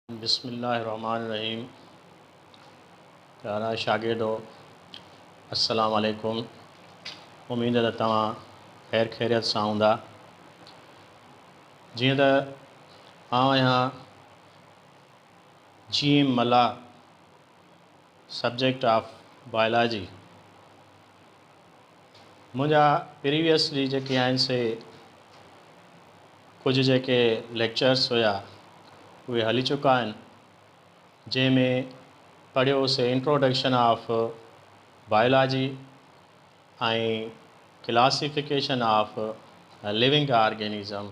بسم الله الرحمٰن الرحيم پيارا شاگردو السلام عليڪم اميد ته توهان خير خيريت سان هوندا جيئن ته آئون آهيان G M Mallah subject of biology منهنجا پريويسلي جيڪي آهن سي ڪجهه جيڪي ليڪچرس هيا اهي هلي چڪا آهن جنهن ۾ پڙهيو هوسي introduction of biology ۽ classification of living organism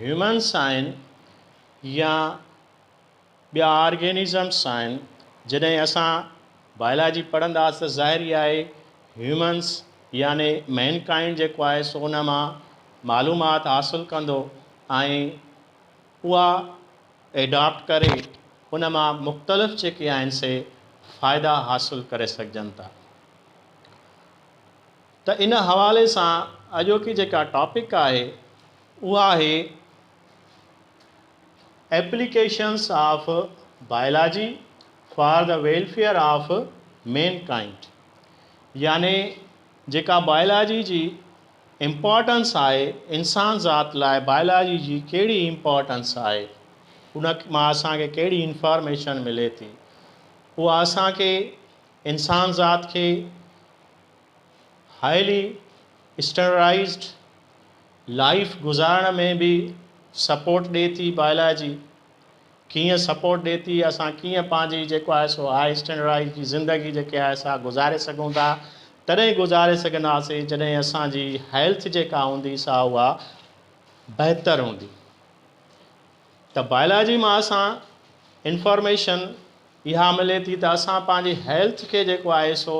humans آهن يا ٻيا آرگينزمس آهن جڏهن اسان بائلاجي پڙهنداس ته ظاهر ئي آهي هيومنس يعني مين ڪائنڊ جيڪو آهي سو ان مان معلومات حاصل ڪندو ۽ اها ايڊاپٽ ڪري ان مان مختلف جيڪي آهن سي فائدا حاصل ڪري سگهجن ٿا ته ان حوالي سان اڄوڪي جيڪا ٽاپڪ آهي اها آهي applications of biology for the welfare of mankind يعني جيڪا بائلاجي جي امپارٽنس آهي انسان ذات لاء بائلاجي جي ڪهڙي امپارٽنس آهي ان مان اسان کي ڪهڙي انفارميشن ملي ٿي اها اسان کي انسان ذات کي هائلي اسٽينڊرڊائيزڊ لائيف گذارڻ ۾ به سپورٽ ڏي ٿي بائلاجي ڪيئن سپورٽ ڏي ٿي اسان ڪيئن پنهنجي جيڪو آهي سو هائي اسٽينڊرڊائيز جي زندگي جيڪي آهي سا گذاري سگهون ٿا تڏهن گذاري سگهنداسين جڏهن اسان جي هيلٿ جيڪا هوندي سا اها بهتر هوندي. ته بائلاجي مان اسان انفارميشن اها ملي ٿي ته اسان پنهنجي هيلٿ کي جيڪو آهي سو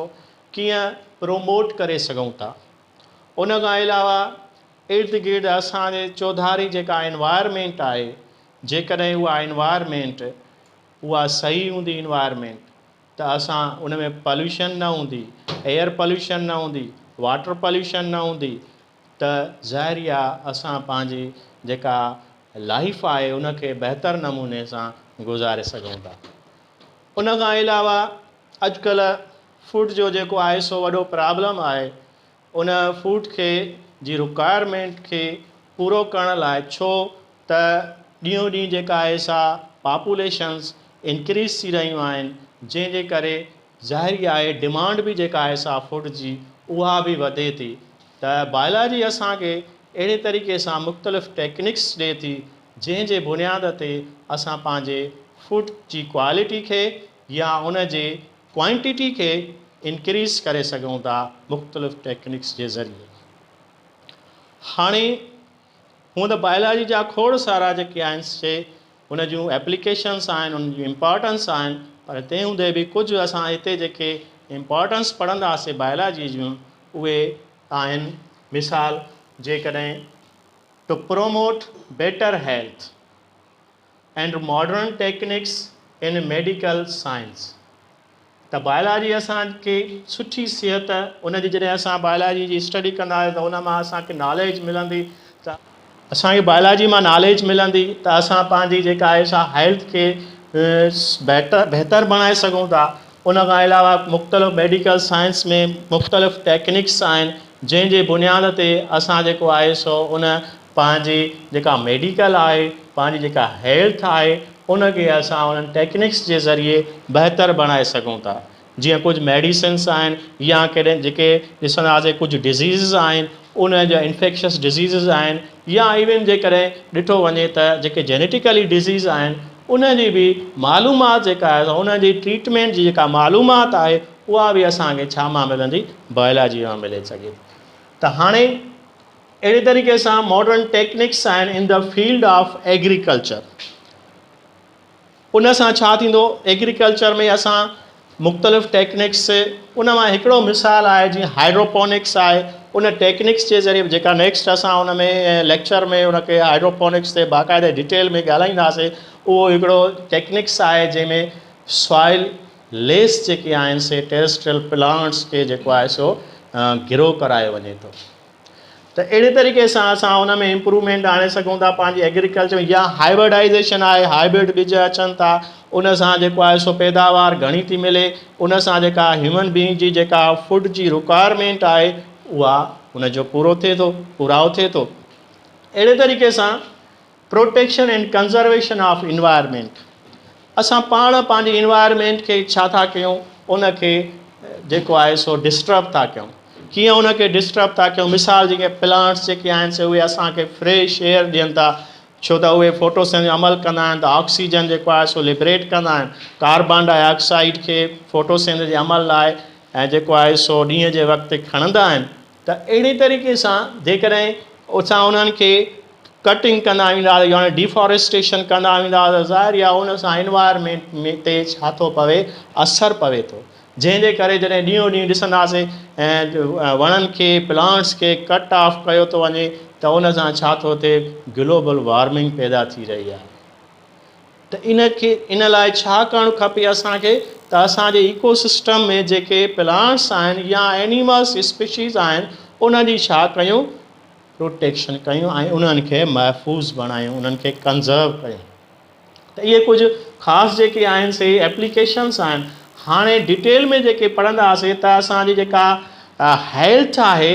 ڪيئن پروموٽ ڪري سگهون ٿا. ان کان علاوه ارد گرد اسان جي چوڌاري جيڪا انوائرمينٽ آهي جيڪڏهن اها انوائرمينٽ اها صحيح هوندي انوائرمينٽ ته اسان ان ۾ پاليوشن نه هوندي ايئر پاليوشن نه هوندي واٽر پاليوشن نه هوندي ته ظاهر ئي آهي اسان پنهنجي جيڪا لائيف آهي ان کي بهتر نموني سان گذاري سگهون ٿا. ان کان علاوه اڄ ڪلهه فوڊ جو جيڪو آهي سو وڏو پرابلم آهي ان فوڊ کي جي رڪوائرمينٽ کي پورو ڪرڻ لاء ڇو ته ڏينهون ڏينهن جيڪا آهي سا پاپوليشنز انڪريز ٿي رهيون آهن جنهن جي ڪري ظاهر ئي آهي ڊمانڊ به جيڪا آهي سا فوڊ جي اها به وڌي ٿي ته بائلاجي اسان کي اهڙي طريقي سان مختلف ٽيڪنڪس ڏي ٿي جنهن جي بنياد تي اسان پنهنجي فوڊ جي ڪوالٽي کي يا ان جي ڪوانٽيٽي کي انڪريز ڪري سگهون ٿا مختلف ٽيڪنڪس جي ذريعي هاڻي هونء ته بائلاجي جا کوڙ سارا جيڪي آهن سي ان جون ايپليڪيشنس آهن، انهن جون امپارٽنس آهن، پر تنهن هوندي به ڪجهه اسان هتي جيڪي امپارٽنس پڙهنداسين بائلاجي جون اهي آهن، مثال جيڪڏهن to promote better health. And modern techniques in medical science ته بايلاجي اسان کي سٺي صحت ان جي جڏهن اسان بايلاجي جي اسٽڊي ڪنداسين ته ان مان اسان کي ناليج ملندي ته اسان کي بايلاجي مان ناليج ملندي ته اسان پنهنجي جيڪا آهي سا هيلٿ کي بهتر بهتر بڻائي سگهون ٿا ان کان علاوه مختلف ميڊيڪل سائنس ۾ مختلف ٽيڪنڪس آهن جنهن جي بنياد تي اسان جيڪو آهي سو ان پنهنجي جيڪا ميڊيڪل آهي، پنهنجي جيڪا هيلٿ آهي، ان کي اسان انهن ٽيڪنڪس جي ذريعي بهتر بڻائي سگهون ٿا. جيئن ڪجهه ميڊيسنس آهن يا ڪڏهن جيڪي ڏسنداسين ڪجهه ڊزيزز آهن، ان جا انفيڪشس ڊزيزز آهن يا ايون جيڪڏهن ڏٺو وڃي ته جيڪي جينيٽيڪلي ڊزيز آهن، ان جي به معلومات جيڪا آهي سا ان جي ٽريٽمينٽ جي جيڪا معلومات آهي، اها به اسان کي ڇا مان ملندي؟ بايولاجي مان ملي سگهي ٿي. ته هاڻي. اهڙي طريقي سان ماڊرن ٽيڪنڪس آهن in the field of agriculture. ان سان ڇا ٿيندو ايگريڪلچر ۾ اسان مختلف ٽيڪنڪس ان مان هڪڙو مثال آهي جيئن هائيڊروپونڪس آهي ان ٽيڪنڪس جي ذريعي جيڪا نيڪسٽ اسان ان ۾ ليڪچر ۾ ان کي هائيڊروپونڪس تي باقاعده ڊيٽيل ۾ ڳالهائينداسي اهو هڪڙو ٽيڪنڪس آهي جنهن ۾ سوائل ليس جيڪي آهن سي ٽيرسٽريل پلانٽس کي جيڪو آهي سو گرو ڪرايو وڃي ٿو. ته اهڙي طريقي سان اسان ان ۾ امپروومينٽ آڻي سگهون ٿا پنهنجي ايگريڪلچر ۾ يا هائبرڊائيزيشن آهي هائبرڊ ٻج اچن ٿا ان سان جيڪو آهي سو پيداوار گهڻي ٿي ملي ان سان جيڪا هيومن بينگ جي جيڪا فوڊ جي رڪوائرمينٽ آهي اها ان جو پورو ٿئي ٿو پورائو ٿئي ٿو اهڙي طريقي سان protection and conservation of environment, اسان پاڻ پنهنجي انوائرمينٽ کي ڇا ٿا ڪيون ان کي جيڪو آهي سو ڊسٽرب ٿا ڪيون، ڪيئن ان کي ڊسٽرب ٿا ڪيون مثال جي ڪي پلانٽس جيڪي آهن سي اهي اسان کي فريش ايئر ڏين ٿا ڇو ته اهي ڦوٽوسن جو عمل ڪندا آهن ته آڪسيجن جيڪو آهي سو لبريٽ ڪندا آهن ڪاربان ڊاء آڪسائيڊ کي ڦوٽوسن جي عمل لاء ۽ جيڪو آهي سو ڏينهن جي وقت کڻندا آهن. ته اهڙي طريقي سان جيڪڏهن اسان انهن کي ڪٽنگ ڪندا وينداسين يعني ڊيفاريسٽيشن ڪندا وينداسين ته ظاهر ئي آهي ان سان انوائرمينٽ ۾ تي ڇا ٿو پوي اثر پوي ٿو جنهن جي ڪري جڏهن ڏينهون ڏينهن ڏسنداسين وڻن کي پلانٽس کي ڪٽ آف ڪيو ٿو وڃي ته ان سان ڇا ٿو ٿئي گلوبل وارمنگ پيدا ٿي رهي آهي. ته ان کي ان لاء ڇا ڪرڻ کپي اسان کي ته اسان جي ايڪو سسٽم ۾ جيڪي پلانٽس آهن يا اينيملس اسپيشيز آهن انهن جي ڇا ڪيون پروٽيڪشن ڪيون ۽ انهن کي محفوظ بڻايون انهن کي ڪنزرو ڪيون ته اهي ڪجهه خاص جيڪي آهن سي ايپليڪيشنس آهن هاڻي ڊيٽيل ۾ جيڪي پڙهنداسي ته اسان جي جيڪا هيلٿ آهي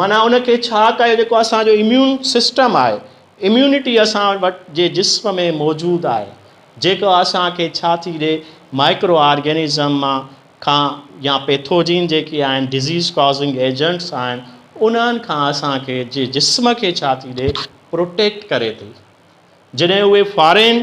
معنيٰ ان کي ڇا ڪيو جيڪو اسان جو اميون سسٽم آهي اميونٽي اسان وٽ جي جسم ۾ موجود آهي جيڪو اسان کي ڇا ٿي ڏي مائڪرو آرگينزم مان کان يا پيٿوجين جيڪي آهن ڊزيز ڪازنگ ايجنٽس آهن انهن کان اسان کي جي جسم کي ڇا ٿي ڏي پروٽيڪٽ ڪري ٿي جڏهن اهي فارين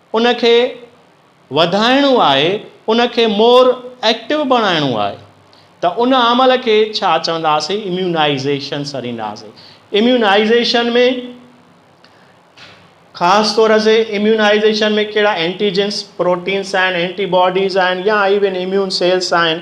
ان کي وڌائڻو آهي، ان کي مور ايڪٽو بڻائڻو آهي ته ان عمل کي ڇا چونداسين اميونائيزيشن سڏينداسين. اميونائيزيشن ۾ خاص طور سي اميونائيزيشن ۾ ڪهڙا اينٽيجنس، پروٽينس آهن، اينٽي باڊيز آهن يا ايون اميون سيلس آهن،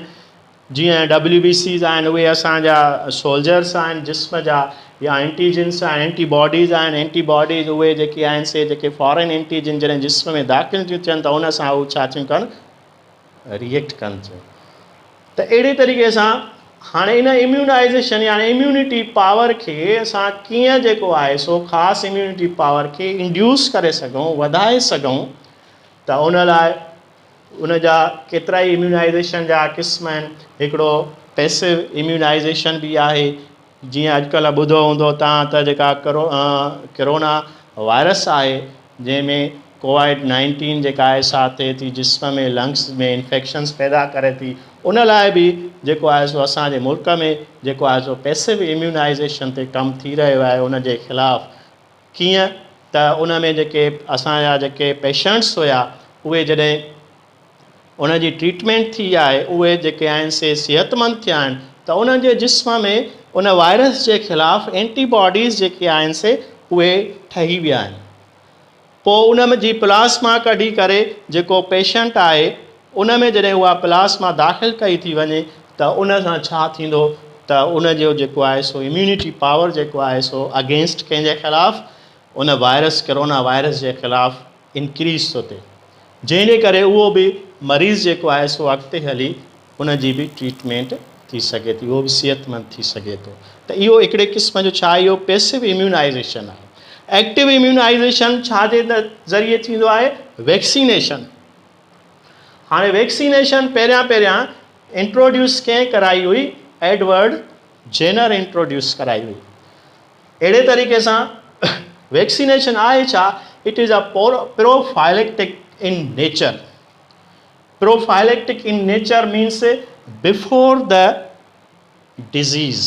جيئن ڊبليو بي سيز آهن اهي اسان جا سولجرس آهن جسم جا يا اينٽي جنس آهن اينٽي باڊيز آهن اينٽي باڊيز اهي جيڪي آهن سي جيڪي فارين اينٽي جن جڏهن جسم ۾ داخل ٿيون ٿين ته ان سان هو ڇا ٿيون ڪن ريئيڪٽ ڪن ٿيون ته اهڙي طريقي سان هاڻي ان اميونائيزيشن يعني اميونٽي پاور کي اسان ڪيئن جيڪو آهي سو خاص اميونٽي پاور کي انڊيوس ڪري سگهون وڌائي سگهون ته ان لاء ان جا ڪيترائي اميونائيزيشن جا قسم آهن هڪڙو پيسو اميونائيزيشن به آهي جيئن اڄ ڪلهه ٻڌو هوندو توهان ته جيڪا ڪرو ڪرونا وائرس آهي جنهن ۾ ڪوائڊ نائنٽين جيڪا آهي سا ٿئي ٿي جسم ۾ لنگس ۾ انفيڪشنس پيدا ڪري ٿي ان لاء به جيڪو آهي سو اسان جي ملڪ ۾ جيڪو آهي سو پيسو اميونائيزيشن تي ڪم ٿي رهيو آهي ان جي خلاف ڪيئن ته ان ۾ جيڪي اسان جا جيڪي پيشنٽس هيا اهي جڏهن ان جي ٽريٽمينٽ ٿي آهي اهي جيڪي آهن سي صحت مند ٿيا آهن ته انهن جي جسم ۾ ان وائرس جي خلاف اينٽي باڊيز جيڪي آهن سي اهي ٺهي ويا آهن پوء ان جي پلاسما ڪڍي ڪري جيڪو پيشنٽ آهي ان ۾ جڏهن اها پلاسما داخل ڪئي ٿي وڃي ته ان سان ڇا ٿيندو ته ان جو جيڪو آهي سو اميونٽي پاور جيڪو آهي سو اگينسٽ ڪنهن جي خلاف ان وائرس ڪرونا وائرس جي خلاف انڪريز ٿو ٿئي جنهن جي ڪري اهو به مريض جيڪو آهي سو اڳتي هلي ان جي به ٽريٽمينٽ ٿي سگهي ٿي اهو به صحت مند ٿي سگهي ٿو ته اهو هڪڙي قسم جو ڇا اهو پيسو اميونائزيشن آهي ايڪٽو اميونائزيشن ڇا جي ذريعي ٿيندو آهي ويڪسينيشن هاڻي ويڪسينيشن پهريان پهريان انٽروڊيوس ڪنهن ڪرائي هئي؟ ايڊورڊ جينر انٽروڊيوس ڪرائي هئي. اهڙي طريقي سان ويڪسينيشن آهي ڇا؟ It is a prophylactic in nature. Prophylactic in nature means before the disease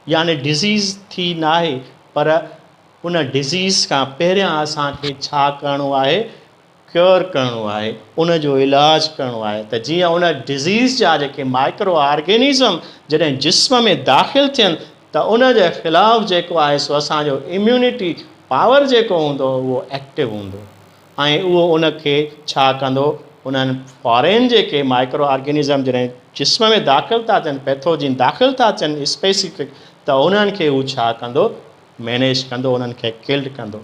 يعني ڊزيز ٿي ناهي پر ان ڊزيز کان پهريان اسان کي ڇا ڪرڻو آهي؟ ڪيور ڪرڻو آهي ان جو علاج ڪرڻو آهي ته جيئن ان ڊزيز جا جيڪي مائڪرو آرگينزم جڏهن جسم ۾ داخل ٿين ته ان جي خلاف جيڪو آهي سو اسان جو اميونٽي پاور جيڪو هوندو اهو ايڪٽو هوندو ۽ اهو ان کي ڇا ڪندو انهن فارين جيڪي مائڪرو آرگينزم جڏهن جسم ۾ داخل ٿا ٿين پيٿوجين داخل ٿا ٿين اسپيسفڪ ته انهن کي هو ڇا ڪندو مينيج ڪندو انهن کي ڪلڊ ڪندو.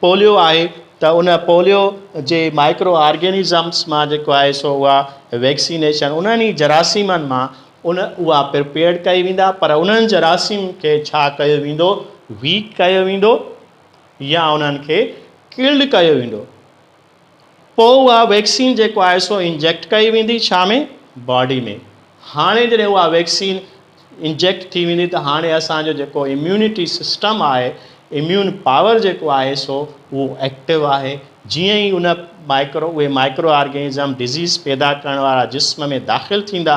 پوليو آهي ته ان پوليو جي مائڪرو آرگينزمس مان جيڪو آهي سو اها ويڪسينيشن انهن ئي جراثيمن مان ان اها پرپيئرڊ ڪئي ويندا پر انهن جراثيم کي ڇا ڪيو ويندو ويڪ ڪيو ويندو يا انهن کي ڪلڊ ڪيو ويندو. پوء اها ويڪسين جيڪو آهي سو انجيڪٽ ڪئي ويندي ڇا ۾ باڊي ۾ هاڻي جڏهن اها ويڪسين انجيڪٽ ٿي ويندي ته هاڻي اسان جو جيڪو اميونٽي سسٽم آهي اميون پاور جيڪو آهي سو اهو ايڪٽو آهي جيئن ئي ان مائڪرو اهي مائڪرو آرگينزم ڊزيز پيدا ڪرڻ وارا جسم ۾ داخل ٿيندا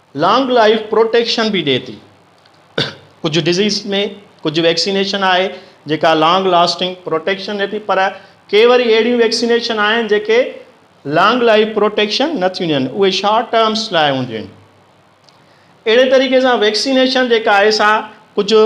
لانگ لائيف پروٽيڪشن به ڏئي ٿي. ڪجهه ڊزيز ۾ ڪجهه ويڪسينيشن آهي جيڪا لانگ لاسٽنگ پروٽيڪشن ڏئي ٿي پر ڪي وري اهڙيون ويڪسينيشن آهن جيڪي لانگ لائيف پروٽيڪشن نه ٿيون ڏين اهي شارٽ ٽرمس لاء هونديون آهن. اهڙي طريقي سان ويڪسينيشن جيڪا آهي سا ڪجهه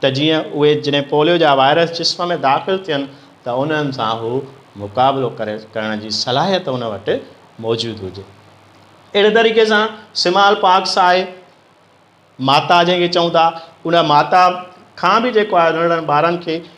ته جيئن اهي جڏهن پوليو جا وائرس جسم ۾ داخل ٿين ته انهن سان هو مقابلو ڪرڻ جي صلاحيت ان وٽ موجود هجي. اهڙي طريقي سان سمال پاڪس آهي ماتا جنهن کي چئون ٿا ان ماتا کان به جيڪو آهي ننڍڙن ٻارن کي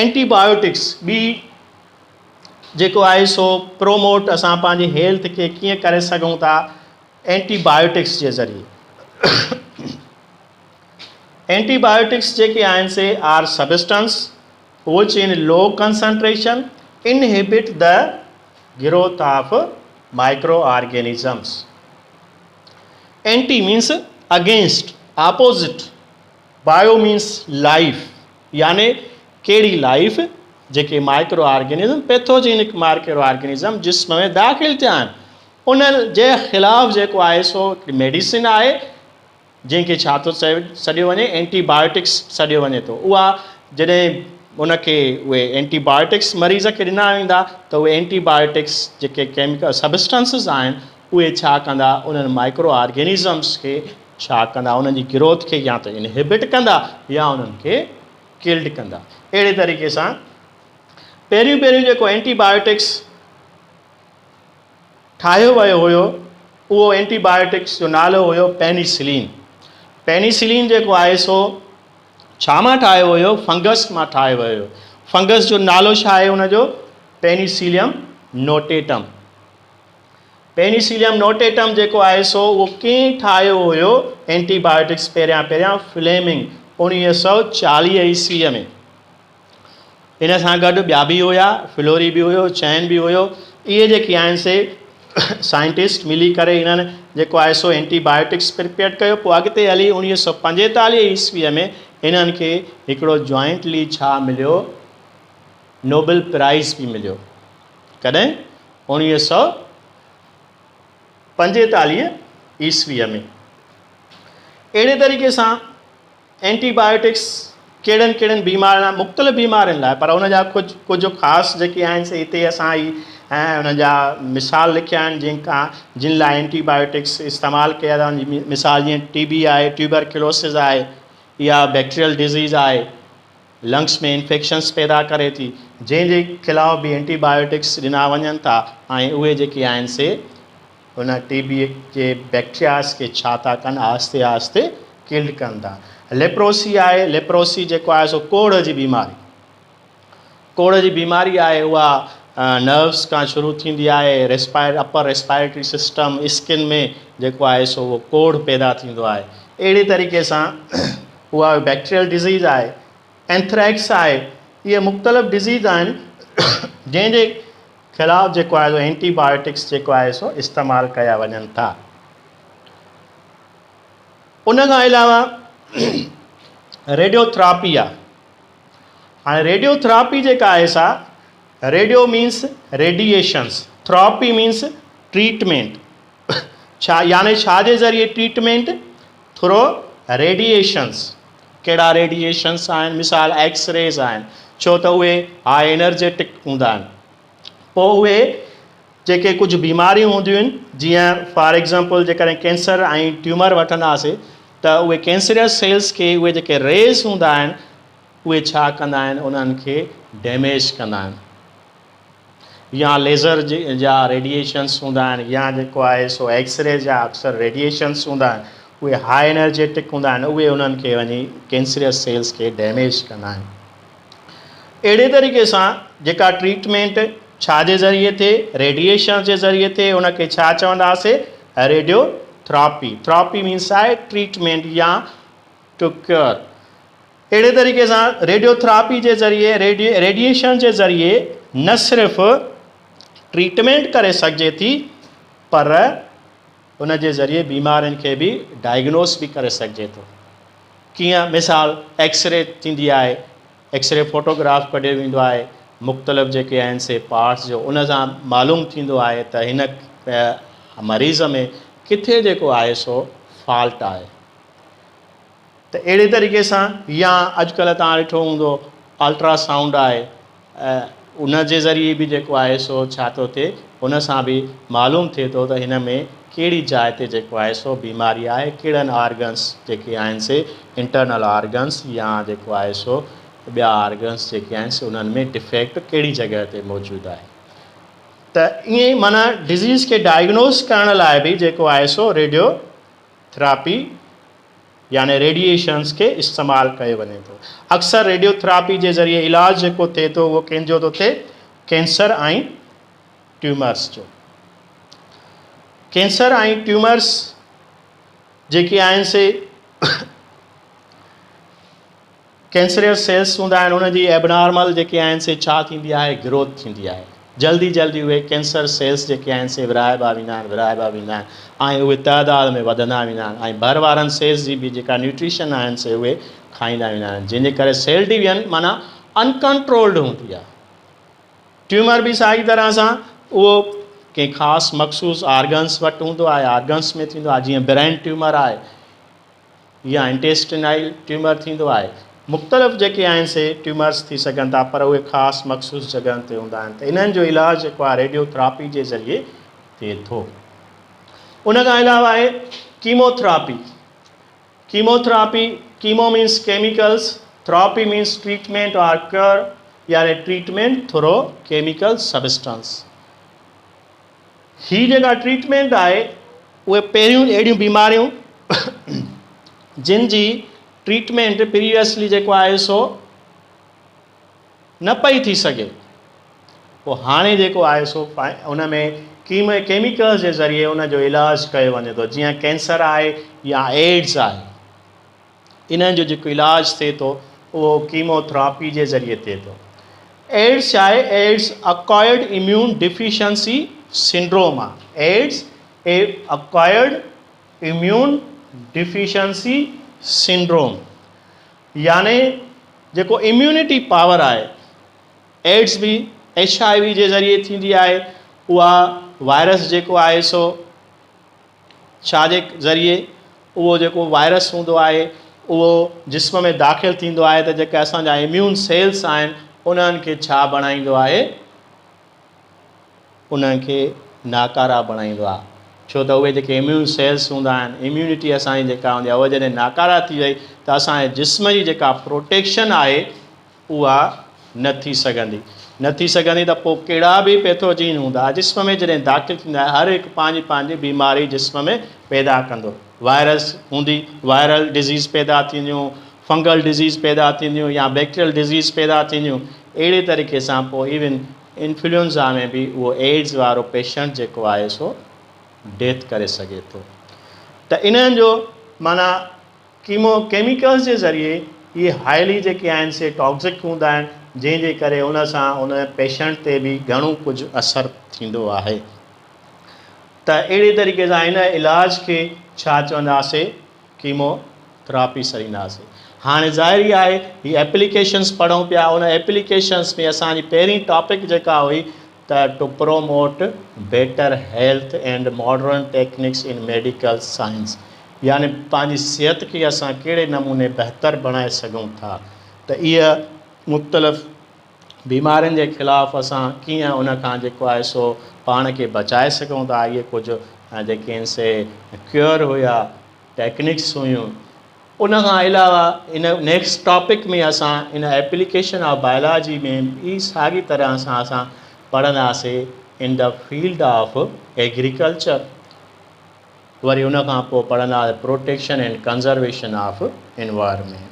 اينٽي بايوٽڪس ٻي جيڪو آهي سو پروموٽ اسان پنهنجي هيلٿ کي ڪيئن ڪري سگهون ٿا اينٽي بايوٽڪس جي ذريعي اينٽي بايوٽڪس جيڪي آهن سي are substance which in low concentration inhibit the growth of micro organisms anti means against opposite bio means life يعني ڪهڙي لائف جيڪي microorganism pathogenic microorganism جسم ۾ داخل ٿيا آهن انهن جي خلاف جيڪو آهي سو هڪڙي ميڊيسن آهي جنهن کي ڇا ٿو سڏيو وڃي اينٽي بايوٽڪس سڏيو وڃي ٿو اها جڏهن ان کي اهي اينٽي بايوٽڪس مريض کي ڏنا ويندا ته اهي اينٽي بايوٽڪس جيڪي ڪيميڪل سبسٽنسز آهن اهي ڇا ڪندا انهن مائڪرو آرگنزمس کي ڇا ڪندا انهن جي گروٿ کي يا ته انهيبٽ ڪندا يا انهن کي ڪلڊ ڪندا اهڙي طريقي سان پهريون پهريون جيڪو اينٽي بايوٽڪس ٺاهيو ويو هيو اهو اينٽي بايوٽڪس جو نالو هيو پينيسلين پينيسلين جيڪو آهي سو ڇا مان ٺاهيو ويو فنگس مان ٺاهيو ويو فنگس جو نالو ڇا آهي ان جو پينيسيليم نوٽيٽم پينيسيليم نوٽيٽم جيڪو آهي سو اهو ڪنهن ٺاهيو هيو؟ اينٽي بايوٽڪس پهريان پهريان فليمنگ اوڻويهه سؤ چاليهه عيسويء ۾ ان سان گڏ ٻيا به هيا فلوري به هيو چين به هيو اهي جيڪي آهن سي سائنٽسٽ ملي ڪري انهن جيڪو آهي سو اينٽي بايوٽڪس پرپيئر ڪيو پوء اڳتي هلي اوڻويهه سؤ پنجيتاليهه عيسويء ۾ انهن کي هڪڙو جوائنٽلي ڇا مليو نوبل پرائز به مليو ڪڏهن اوڻويهه سؤ پنجيتاليهه عيسويء ۾. اهڙي طريقي سان اينٽي بايوٽڪس ڪهڙن ڪهڙن بيمارين مختلف بيمارين لاء پر ان جا ڪجهه ڪجهه خاص جيڪي آهن سي هتي اسان هي انهن جا مثال لکيا آهن جن کان جن لاء اينٽي بايوٽڪس استعمال ڪيا ويا آهن مثال جيئن ٽي بي آهي ٽيوبرڪلوسز آهي يا بيڪٽريل ڊزيز آهي لنگس ۾ انفيڪشنس پيدا ڪري ٿي جنهن جي خلاف به اينٽي بايوٽڪس ڏنا وڃن ٿا ۽ اهي جيڪي آهن سي ان ٽي بي جي بيڪٽرياز کي ڇا ٿا ڪن آهستي آهستي ڪلڊ ڪن ٿا ليپروسي آهي ليپروسي جيڪو آهي سو ڪوڙهه جي بيماري ڪوڙهه جي بيماري آهي اها نروس کان شروع ٿيندي آهي respire upper respiratory system skin ۾ جيڪو آهي سو اهو ڪوڙهه پيدا ٿيندو آهي اهڙي طريقي سان اها بيڪٽيريل ڊزيز آهي. اينٿريڪس آهي. اهي مختلف ڊزيز آهن جنهن جي خلاف جيڪو آهي سو اينٽي بايوٽڪس جيڪو آهي سو استعمال ڪيا وڃن ٿا. ان کان علاوه ريڊيو ٿراپي آهي. هاڻي ريڊيو ٿراپي جيڪا آهي سا radio means radiations therapy means treatment ڇا يعني ڇا جي ذريعي ٽريٽمينٽ ٿرو ريڊيئيشنز، ڪهڙا ريڊيئيشنز آهن؟ مثال ايڪس ريز آهن، ڇو ته اهي هاء انرجيٽڪ هوندا آهن. پوء اهي جيڪي ڪجهه بيماريون هونديون آهن، جيئن فار ايگزامپل جيڪڏهن ڪينسر ۽ ٽيومر وٺنداسين ته اهي ڪينسريس سيلز کي اهي جيڪي ريز هوندا آهن، اهي ڇا ڪندا آهن، انهن کي ڊيميج ڪندا آهن. يا ليزر جا ريڊيئيشنز هوندا آهن يا جيڪو آهي سو ايڪس ري جا اڪثر ريڊيئيشنز هوندا آهن اهي هاء انرجيٽڪ هوندا آهن اهي انهن کي وڃي ڪينسريس سيلز کي ڊيميج ڪندا آهن اهڙي طريقي سان جيڪا ٽريٽمينٽ ڇا جي ذريعي ٿئي ريڊيئيشنز جي ذريعي ٿئي ان کي ڇا چونداسي ريڊيو ٿراپي ٿراپي مينس آهي ٽريٽمينٽ يا ٽو ڪيئر اهڙي طريقي سان ريڊيو ٿراپي جي ذريعي ريڊيئيشن جي ذريعي نه صرف ٽريٽمينٽ ڪري سگهجي ٿي پر ان جي ذريعي بيمارين کي به ڊائگنوس به ڪري سگهجي ٿو ڪيئن مثال ايڪسري ٿيندي آهي ايڪسري فوٽوگراف ڪڍيو ويندو آهي مختلف جيڪي آهن سي پارٽس جو ان سان معلوم ٿيندو آهي ته هن مريض ۾ ڪٿي جيڪو آهي سو فالٽ آهي ته اهڙي طريقي سان يا اڄڪلهه توهان ڏٺو هوندو الٽرا سائونڊ آهي ان جي ذريعي به جيڪو آهي سو ڇا ٿو ٿئي ان سان به معلوم ٿئي ٿو ته هن ۾ ڪهڙي جاء تي جيڪو آهي سو بيماري آهي ڪهڙن آرگنس جيڪي آهن سي انٽرنل آرگنس يا جيڪو آهي سو ٻيا آرگنس جيڪي آهن سي انهن ۾ ڊفيڪٽ ڪهڙي جڳهه تي موجود آهي ته ائين معنيٰ ڊزيز کي ڊائگنوز ڪرڻ لاء به جيڪو آهي سو ريڊيو ٿراپي يعني ريڊيئيشنز کي استعمال ڪيو وڃي ٿو. اڪثر ريڊيو ٿراپي جي ذريعي علاج جيڪو ٿئي ٿو اهو ڪنهن جو ٿو ٿئي؟ ڪينسر ۽ ٽيومرز جو. ڪينسر ۽ ٽيومرز جيڪي آهن سي ڪينسريئس سيلس هوندا آهن انهن جي ائبنارمل جيڪي آهن سي ڇا ٿيندي آهي گروٿ ٿيندي آهي جلدي جلدي اهي ڪينسر سيلس جيڪي آهن سي ورهائبا ويندا آهن ورهائبا ويندا آهن ۽ اهي تعداد ۾ وڌندا ويندا آهن ۽ ڀر وارن سيلس جي به جيڪا نيوٽريشن آهن سي اهي کائيندا ويندا آهن جنهن جي ڪري سيل ڊويزن معنيٰ انڪنٽرولڊ هوندي آهي ٽيومر به ساڳي طرح سان اهو ڪنهن خاص مخصوص آرگنس وٽ هوندو آهي آرگنس ۾ ٿيندو آهي جيئن برين ٽيومر آهي يا انٽيسٽينائل ٽيومر ٿيندو آهي. مختلف جيڪي آهن سي ٽيومرس ٿي سگهن ٿا پر اهي خاص مخصوص جڳهن تي هوندا آهن ته انهن جو علاج جيڪو آهي ريڊيو ٿراپي جي ذريعي ٿئي ٿو. ان کان علاوه آهي chemo therapy, Chemo Therapy، chemo means chemicals, therapy means treatment or care يعني ٽريٽمينٽ ٿرو ڪيميڪل سبسٽنس. هي جيڪا ٽريٽمينٽ آهي اهي پهريون اهڙيون بيماريون جن جي ٽريٽمينٽ پريويسلي جيڪو آهي سو نه پئي ٿي سگهي پوء هاڻي جيڪو آهي سو ان ۾ ڪيم ڪيميڪلز جي ذريعي ان جو علاج ڪيو وڃي ٿو جيئن ڪينسر آهي يا ايڊز آهي انهن جو جيڪو علاج ٿئي ٿو اهو ڪيمو ٿراپي جي ذريعي ٿئي ٿو. ايڊز ڇا آهي؟ AIDS acquired immune deficiency syndrome آهي. AIDS acquired immune deficiency syndrome يعني جيڪو اميونٽي پاور آهي ايڊز به ايڇ آء وي جي ذريعي ٿيندي آهي اها وائرس جيڪو آهي سو ڇا جي ذريعي اهو جيڪو وائرس هوندو آهي اهو جسم ۾ داخل ٿيندو آهي ته جيڪي اسان جا اميون سيلس آهن انهن کي ڇا بڻائيندو آهي انهن کي ناڪارا بڻائيندو آهي ڇو ته اهي جيڪي اميون سيلس هوندا آهن اميونٽي اسان جي جيڪا هوندي آهي اهو جڏهن ناڪارا ٿي وئي ته اسان جي جسم جي جيڪا پروٽيڪشن آهي اها نه ٿي سگهندي. نه ٿي سگهندي ته پوء ڪهڙا به پيٿوجين هوندا. جسم ۾ جڏهن داخل ٿيندا آهن هر هڪ پنهنجي پنهنجي بيماري جسم ۾ پيدا ڪندو. وائرس هوندي، وائرل ڊزيز پيدا ٿينديون، فنگل ڊزيز پيدا ٿينديون يا بيڪٽريل ڊزيز پيدا ٿينديون. اهڙي طريقي سان پوء ايون انفلوئنزا ۾ به اهو ايڊز وارو پيشنٽ جيڪو آهي سو ڊيٿ ڪري سگهي ٿو. ته انهن جو معنيٰ. ڪيمو ڪيميڪلز جي ذريعي اهي هائلي جيڪي آهن سي ٽاڪسڪ هوندا آهن جنهن جي ڪري ان سان ان پيشنٽ تي به گهڻو ڪجهه اثر ٿيندو آهي ته اهڙي طريقي سان ان علاج کي ڇا چونداسي ڪيمو ٿراپي سڏينداسي هاڻي ظاهر ئي آهي هي ايپليڪيشنس پڙهون پيا ان ايپليڪيشنس ۾ اسان جي پهرين ٽاپڪ جيڪا هئي ته to promote better health and modern techniques in medical science يعني پنهنجي صحت کي اسان ڪهڙي نموني بهتر بڻائي سگهون ٿا ته اهي مختلف بيمارين جي خلاف اسان ڪيئن ان کان جيڪو آهي سو پاڻ کي بچائي سگهون ٿا اهي ڪجهه جيڪي آهن سي ڪيئر هيا ٽيڪنڪس هيون ان کان علاوه ان نيڪسٽ ٽاپڪ ۾ اسان ان ايپليڪيشن آف بايولاجي ۾ به ساڳي طرح سان اسان پڙهنداسي in the field of agriculture وري ان کان پوء پڙهنداسين protection and conservation of environment.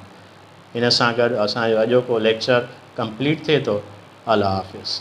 ان سان گڏ اسان جو اڄوڪو ليڪچر ڪمپليٽ ٿئي ٿو. الله حافظ.